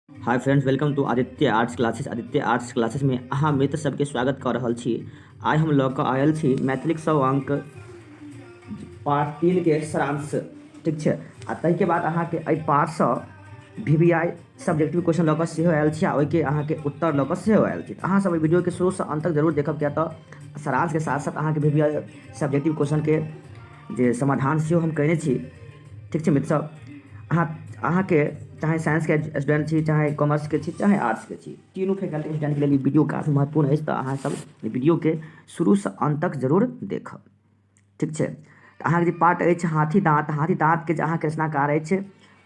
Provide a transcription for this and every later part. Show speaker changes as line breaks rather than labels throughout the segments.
Hi friends welcome to Aditya arts classes Aditya arts classes में अहाँ मित्र सबके स्वागत कर रहल छी आइ हम लऽ कऽ आयल छी मैथिलीक सौ अंक पार्ट तीन के सारांश ठीक छै आ ताहिके बाद अहाँके एहि पार्टसँ V V I subjective question लऽ कऽ सेहो आयल छी आ ओहिके अहाँके उत्तर लऽ कऽ सेहो आयल छी तऽ अहाँ सब एहि वीडियोके शुरूसँ अंत तक जरूर देखब किया तऽ सारांशके साथ साथ अहाँके वी वी आई सब्जेक्टिव क्वेश्चनके जे समाधान सेहो हम कयने छी ठीक छै मित्रसभ अहाँ अहाँके चाहे साइंसके स्टूडेंट छी चाहे कॉमर्सके छी चाहे आर्ट्सके छी तीनू फैकल्टी स्टूडेंटके लेल ई वीडियो काफी महत्वपूर्ण अछि तऽ अहाँसभ एहि वीडियोके शुरूसँ अन्त तक जरूर देखब ठीक छै तऽ अहाँके जे पार्ट अछि हाथी दाँत हाथी दाँतके जे अहाँके रचनाकार अछि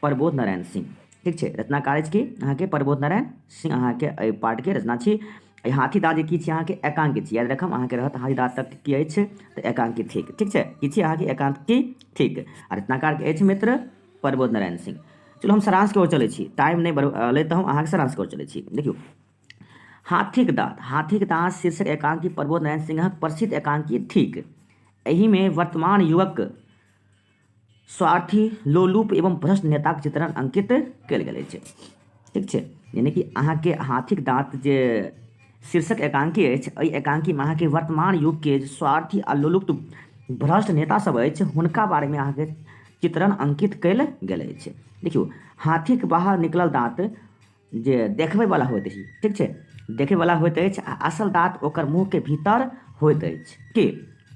प्रबोध नारायण सिंह ठीक छै रचनाकार अछि की अहाँके प्रबोध नारायण सिंह अहाँके एहि पार्टके रचना छी एहि हाथीदास जे की छी अहाँके एकांक छी याद रखब अहाँके रहत हाथीदास तक की अछि तऽ एकांक थिक ठीक छै की छी अहाँके एकांक की थिक आ रचनाकारके अछि मित्र प्रबोध नारायण सिंह चलू हम सारांशके ओर चलै छी टाइम नहि बढ़ अयलै तऽ हम अहाँके सारांशके ओर चलै छी देखियौ हाथीक दाँत हाथीक दाँत शीर्षक एकांकी प्रबोध नारायण सिंहक प्रसिद्ध एकांकी थिक एहिमे वर्तमान युवक स्वार्थी लोलूप एवं भ्रष्ट नेताक चित्रण अंकित कयल गेल अछि ठीक छै यानी कि अहाँके हाथीक दाँत जे शीर्षक एकांकी अछि एहि एकांकीमे अहाँके वर्तमान युगके जे स्वार्थी आ लोलुप्त भ्रष्ट नेतासभ अछि हुनका बारेमे अहाँके चित्रण अंकित कयल गेल अछि देखियौ हाथीक बाहर निकलल दाँत जे देखबैवला होइत अछि ठीक छै देखैवला होइत अछि आ असल दाँत ओकर मुँहके भीतर होइत अछि की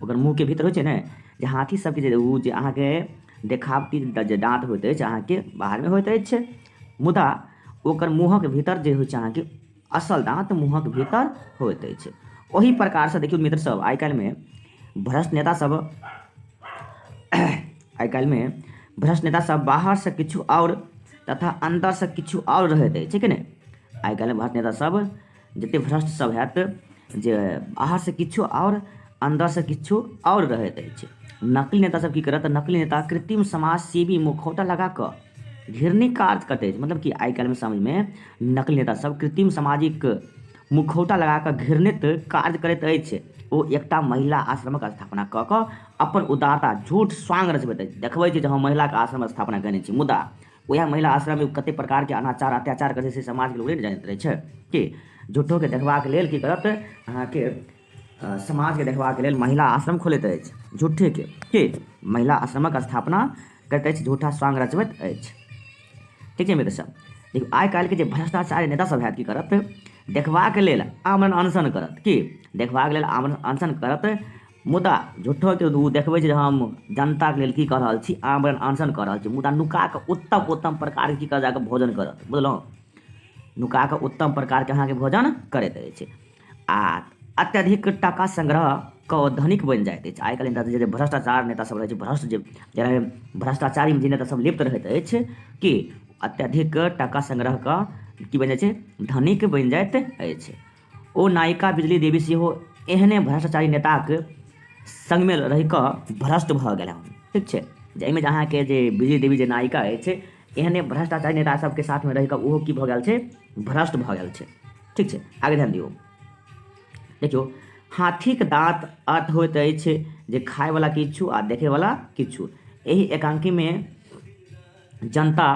ओकर मुँहके भीतर होइत छै ने जे हाथी सबके जे ओ जे अहाँके देखावटी जे दाँत होइत अछि अहाँके बाहरमे होइत अछि मुदा ओकर मुँहक भीतर जे होइत छै अहाँके असल दाँत मुँहक भीतर होइत अछि ओहि प्रकारसँ देखियौ मित्रसभ आइ काल्हिमे भ्रष्ट नेतासभ आइ काल्हिमे भ्रष्ट नेता सब बाहर से किछु आओर तथा अंदर से किछु आओर रहैत अछि कि नहि आइ काल्हि भ्रष्ट नेता सब जते भ्रष्ट सब हैत जे बाहर से किछु आओर अंदर से किछु आओर रहैत अछि नकली नेता सब की करत नकली नेता कृत्रिम समाज सेवी मुखौटा लगा कऽ घिरनी का अर्थ कटै छै मतलब कि आइ काल्हिमे समझमे नकली नेता सब कृत्रिम सामाजिक मुखौटा लगा कऽ घृणित कार्य करैत अछि ओ एकटा महिला आश्रमक स्थापना कऽ कऽ अपन उदारता झूठ स्वांग रचबैत अछि देखबै छै जे हम महिलाके आश्रम स्थापना कयने छी मुदा उएह महिला आश्रममे कतेक प्रकारके अनाचार अत्याचार करै छै से समाजके लोक नहि ने जानैत रहै छै की झूठोके देखबाक लेल की करत अहाँके समाजके देखबाक लेल महिला आश्रम खोलैत अछि झूठेके के महिला आश्रमक स्थापना करैत अछि झूठा स्वांग रचबैत अछि ठीक छै मित्र सब देखियौ आइ काल्हिके जे भ्रष्टाचारी नेता सब हैत की करत देखबाक लेल आमरण अनशन करत की देखबाक लेल आमरण अनशन करत मुदा झूठोके ओ देखबै छै जे हम जनताके लेल की कऽ रहल छी आमरण अनशन कऽ रहल छी मुदा नुका कऽ उत्तम उत्तम प्रकारके की कऽ जाकऽ भोजन करत बुझलहुँ नुका कऽ उत्तम प्रकारके अहाँके भोजन करैत अछि आ अत्यधिक टाका संग्रह कऽ धनिक बनि जाइत अछि आइ काल्हि नेता जे भ्रष्टाचार नेता सब रहैत छै भ्रष्ट जे जेना भ्रष्टाचारी जे नेता सब लिप्त रहैत अछि कि अत्यधिक टाका संग्रह कऽ की बनि जाइत छै धनिक बनि जाइत अछि ओ नायिका बिजली देवी सेहो एहने भ्रष्टाचारी नेताक संगमे रहि कऽ भ्रष्ट भऽ गेल हँ ठीक छै जाहिमे जे अहाँके जे बिजली देवी जे नायिका अछि एहने भ्रष्टाचारी नेता सबके साथमे रहिकऽ ओहो की भऽ गेल छै भ्रष्ट भऽ गेल छै ठीक छै आगे ध्यान दियौ देखियौ हाथीक दाँत अर्थ होइत अछि जे खायवला किछु आ देखैवला किछु एहि एकांकीमे जनता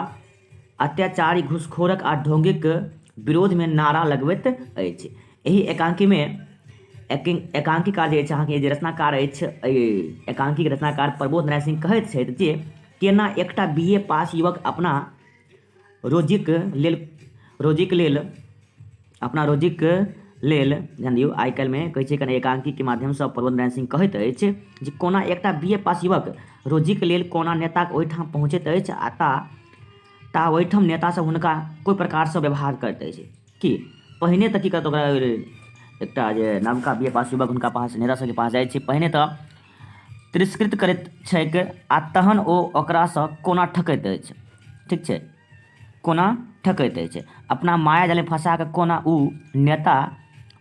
अत्याचारी घुसखोरक आ ढोंगीक विरोधमे नारा लगबैत अछि एहि एकांकीमे एकांकीकार जे अछि अहाँके जे रचनाकार अछि एहि एकांकीके रचनाकार प्रबोध नारायण सिंह कहैत छथि जे केना एकटा बी ए पास युवक अपना रोजीक लेल रोजीक लेल अपना रोजीक लेल ध्यान दियौ आइ काल्हिमे कहै छै कने एकांकीके माध्यमसँ प्रबोध नारायण सिंह कहैत अछि जे कोना एकटा बी ए पास युवक रोजीक लेल कोना नेताक ओहिठाम पहुँचैत अछि आ ता ता ओहिठाम नेतासँ हुनका कोइ प्रकारसँ व्यवहार करैत अछि कि पहिने तऽ की कहत ओकरा एकटा जे नवका बी ए पास युवक हुनका पास नेता सबके पास जाइ छै पहिने तऽ तिरस्कृत करैत छैक आ तहन ओ ओकरासँ कोना ठकैत अछि ठीक छै कोना ठकैत अछि अपना माया जालमे फँसा कऽ कोना ओ नेता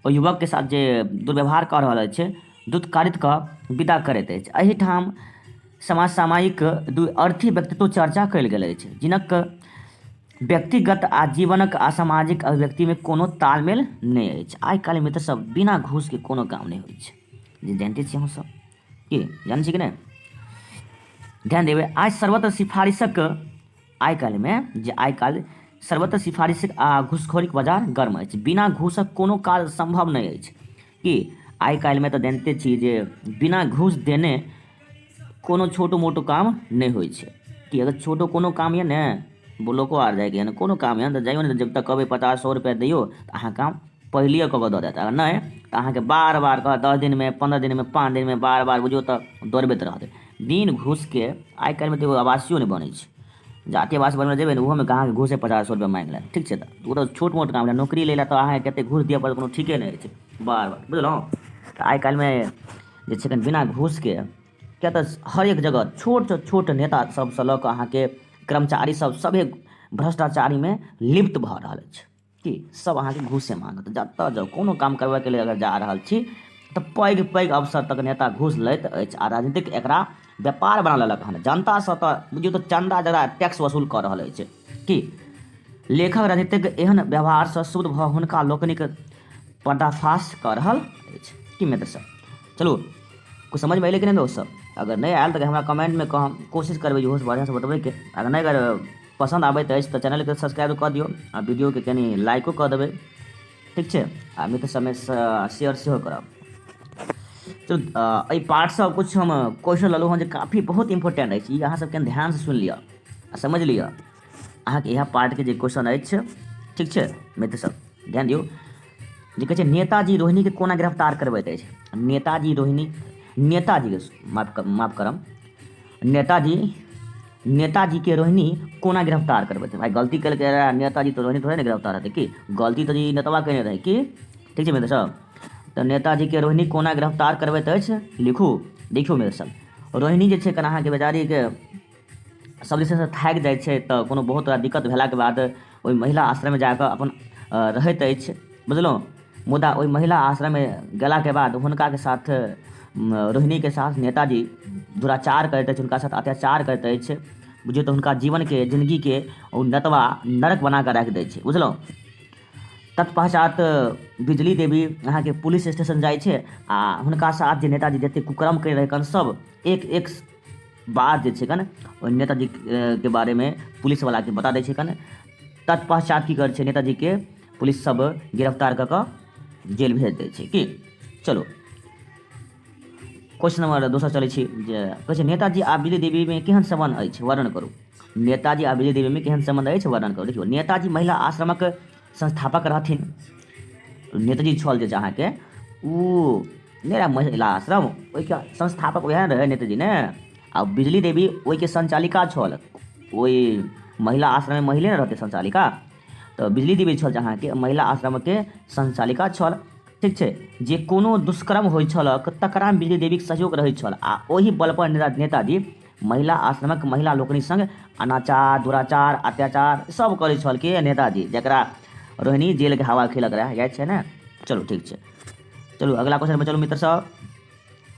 ओ युवकके साथ जे दुर्व्यवहार कऽ रहल अछि दुत्कारित कऽ विदा करैत अछि एहिठाम समाज सामयिक दू अर्थी व्यक्तित्व चर्चा कयल गेल अछि जिनक व्यक्तिगत आ जीवनक आ सामाजिक अभिव्यक्तिमे कोनो तालमेल नहि अछि आइ काल्हि मित्र सब बिना घूसके कोनो काम नहि होइत छै जानते छी अहूँ सब की जानै छी कि नहि ध्यान देबै आइ सर्वत्र सिफारिशक आइ काल्हिमे जे आइ काल्हि सर्वत्र सिफारिशक आ घूसखोरीक बाजार गर्म अछि बिना घूसक कोनो काज सम्भव नहि अछि कि आइ काल्हिमे तऽ जनिते छी जे बिना घूस देने कोनो छोटो मोटो काम नहि होइ छै कि अगर छोटो कोनो काम यऽ ने ब्लॉको आर जाइके यऽ कोनो काम यऽ तऽ जाइयो ने जब तक कहबै पचास सए रुपैआ दियौ तऽ अहाँ काम पहिले कऽ कऽ दऽ देत अगर नहि तऽ अहाँके बार बार कहत दस दिनमे पन्द्रह दिनमे पाँच दिनमे बार बार बुझियौ तऽ दौड़बैत रहत बिन घूसके आइ काल्हिमे तऽ एगो आवासीयो नहि बनै छै जाति आवास बनबै जेबै ने ओहोमे अहाँके घूसे पचास सए रुपैआ माँगि लेत ठीक छै तऽ ओ तऽ छोट मोट काम लए नौकरी लै लए तऽ अहाँके कते घूस दिअ पड़त कोनो ठीके नहि छै बार बार बुझलहुँ तऽ आइ काल्हिमे जे छै कनि बिना घूसके किया तऽ हरेक जगह छोट छोट नेता सबसँ लऽ कऽ अहाँके कर्मचारी सब सभे भ्रष्टाचारीमे लिप्त भऽ रहल अछि कि सभ अहाँके घूसे माँगत जतऽ जाउ कोनो काम करबैके लेल अगर जा रहल छी तऽ पैघ पैघ अवसर तक नेता घूस लैत अछि आ राजनीतिक एकरा व्यापार बना लेलक हन जनतासँ तऽ बुझियौ तऽ चन्दा जकरा टैक्स वसूल कऽ रहल अछि कि लेखक राजनीतिक एहन व्यवहारसँ शुद्ध भऽ हुनका लोकनिक पर्दाफाश कऽ रहल अछि कि मित्र सब चलू कुछ समझमे अयलै कि नहि दोस्त सब अगर नहि आयल तऽ हमरा कमेंटमे कहब कोशिश करबै इहोसँ बढ़िआँसँ बतबैके अगर नहि अगर पसन्द आबैत अछि तऽ चैनलके सब्सक्राइब कऽ दियौ आ वीडियोके कनि लाइको कऽ देबै ठीक छै आ मित्र सबमे शेयर सेहो करब चलू एहि पार्टसँ किछु हम क्वेश्चन लेलहुँ हँ जे काफी बहुत इम्पोर्टेंट अछि ई अहाँसभ कनि ध्यानसँ सुनि लिअ आ समझि लिअ अहाँके इएह पार्टके जे क्वेश्चन अछि ठीक छै मित्र सब ध्यान दियौ जे कहै छै नेताजी रोहिणीके कोना गिरफ्तार करबैत अछि नेताजी रोहिणी नेताजीके माफ माफ करब नेताजी नेताजी के रोहिणी कोना गिरफ्तार करबै छै भाय गलती केलकै रहए नेताजी तऽ रोहिणी थोड़े ने गिरफ्तार हेतै की गलती तऽ ई नेतवा केने रहै की ठीक छै मित्र सब तऽ नेताजी के रोहिणी कोना गिरफ्तार करबैत अछि लिखू देखियौ मित्र सब रोहिणी जे छै कना अहाँके बेचारीके सब जे छै से थाकि जाइ छै तऽ कोनो बहुत तरह दिक्कत भेलाके बाद ओहि महिला आश्रममे जा कऽ अपन रहैत अछि बुझलहुँ मुदा ओहि महिला आश्रममे गेलाके बाद हुनकाके साथ रोहिणीके साथ नेताजी दुराचार करैत अछि हुनका साथ अत्याचार करैत अछि बुझियौ तऽ हुनका जीवनके जिन्दगीके ओ नतवा नरक बना कऽ राखि दैत छै बुझलहुँ तत्पश्चात बिजली देवी अहाँके पुलिस स्टेशन जाइ छै आ हुनका साथ जे नेताजी जतेक कुकर्म कयने रहै सब एक एक बाद जे छै कन ओहि नेताजीके बारेमे पुलिसवलाके बता दै छै कन तत्पश्चात की करै छै नेताजीके पुलिस सब गिरफ्तार कऽ कऽ जेल भेज दै छै की चलो क्वेश्चन नंबर दोसर चलै छी जे कहै छै नेताजी आ विजय देवीमे केहन सम्बन्ध अछि वर्णन करू नेताजी आ विजय देवीमे केहन सम्बन्ध अछि वर्णन करू देखियौ नेताजी महिला आश्रमक संस्थापक रहथिन नेताजी छल जे अहाँके ओ नहि रहै महिला आश्रम ओहिके संस्थापक वएह रहै नेताजी ने आ बिजली देवी ओहिके संचालिका छल ओहि महिला आश्रममे महिले ने रहतै संचालिका तऽ बिजली देवी छल जे अहाँके महिला आश्रमके संचालिका छल ठीक छै जे कोनो दुष्कर्म होइ छलक तकरा बिजली देवीके सहयोग रहै छल आ ओहि बलपर नेता नेताजी महिला आश्रमक महिला लोकनि संग अनाचार दुराचार अत्याचार सब करै छल के नेताजी जकरा रोहिणी जेल के हवा खेलक रहे याद छै ने चलू ठीक छै चलू अगला क्वेश्चन पर चलू मित्र सब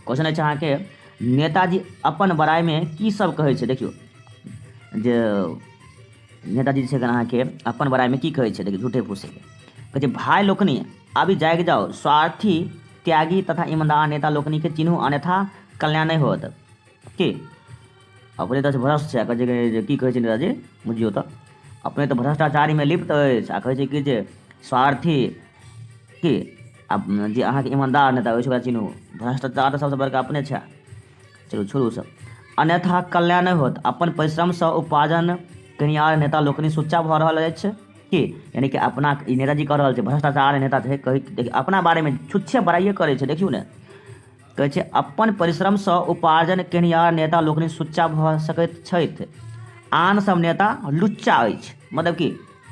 क्वेश्चन अछि अहाँके नेताजी अपन बड़ाइमे की सब कहै छै देखियौ जे नेताजी छै अहाँके अपन बड़ाइमे की कहै छै देखियौ झूठे फूसे कहै छै भाय लोकनि अभी जागि जाओ स्वार्थी त्यागी तथा ईमानदार नेता लोकनि के चिन्हू अन्यथा कल्याण नहि होत की अपने तऽ भ्रष्ट छै कहै छै जे की कहै छै नेताजी बुझियौ तऽ अपने तऽ भ्रष्टाचारीमे लिप्त अछि आ कहै छै कि जे स्वार्थी की आ जे अहाँके ईमानदार नेता होइ छै ओकरा चिन्हू भ्रष्टाचार तऽ सभसँ बड़का अपने छै चलू छोड़ू सब अन्यथा कल्याण नहि होत अपन परिश्रमसँ उपार्जन कनियार नेता लोकनि सुच्चा भऽ रहल अछि की यानी कि अपना ई नेताजी कऽ रहल छै भ्रष्टाचार नेता छै कहै देखियौ अपना बारेमे छुच्छे बड़ाइए करै छै देखियौ ने कहैत छै अपन परिश्रमसँ उपार्जन केनिहार नेता लोकनि सुच्चा भऽ सकैत छथि आन सब नेता लुच्चा अछि मतलब कि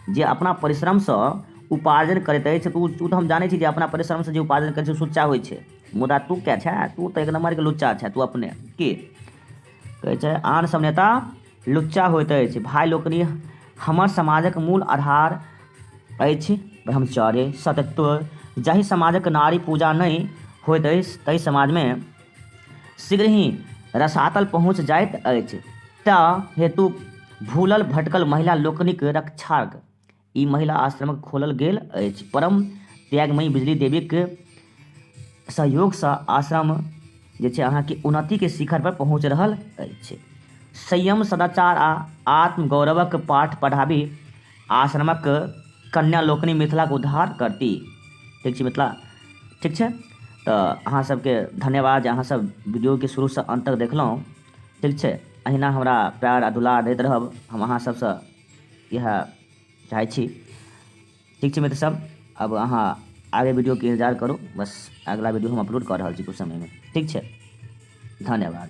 जे अपना परिश्रमसँ उपार्जन करैत अछि तऽ ओ तऽ हम जानै छी जे अपना परिश्रमसँ जे उपार्जन करैत छै सुच्चा होइ छै मुदा तू क्या छै तू तऽ एक नम्बरके लुच्चा छै तू अपने की कहै छै आन सब नेता लुच्चा होइत अछि भाय लोकनि हमर समाजक मूल आधार अछि ब्रह्मचर्य सतत्व जाहि समाजक नारी पूजा नहि होइत अछि ताहि समाजमे शीघ्र ही रसातल पहुँच जाइत अछि तँ हेतु भूलल भटकल महिला लोकनिक रक्षाक ई महिला आश्रमक खोलल गेल अछि। परम त्यागमयी बिजली देवीक सहयोग स आश्रम जे छै अहाँ के उन्नति के शिखर पर पहुँच रहल अछि। संयम, सदाचार आ आत्मगौरवक पाठ पढ़ाबि आश्रमक कन्या लोकनि मिथिलाक उद्धार करति। ठीक छै मिथिला। ठीक छै त अहाँ सब के धन्यवाद जे अहाँ सब वीडियो के शुरू स अंत तक देखलहुँ। ठीक छै। अहिना हमरा प्यार आ दुलार दैत रहब। हम अहाँ सब स। इएह चाहै छी ठीक छै मित्र सब अब अहाँ आगे वीडियोके इन्तजार करू बस अगिला वीडियो हम अपलोड कऽ रहल छी किछु समयमे ठीक छै धन्यवाद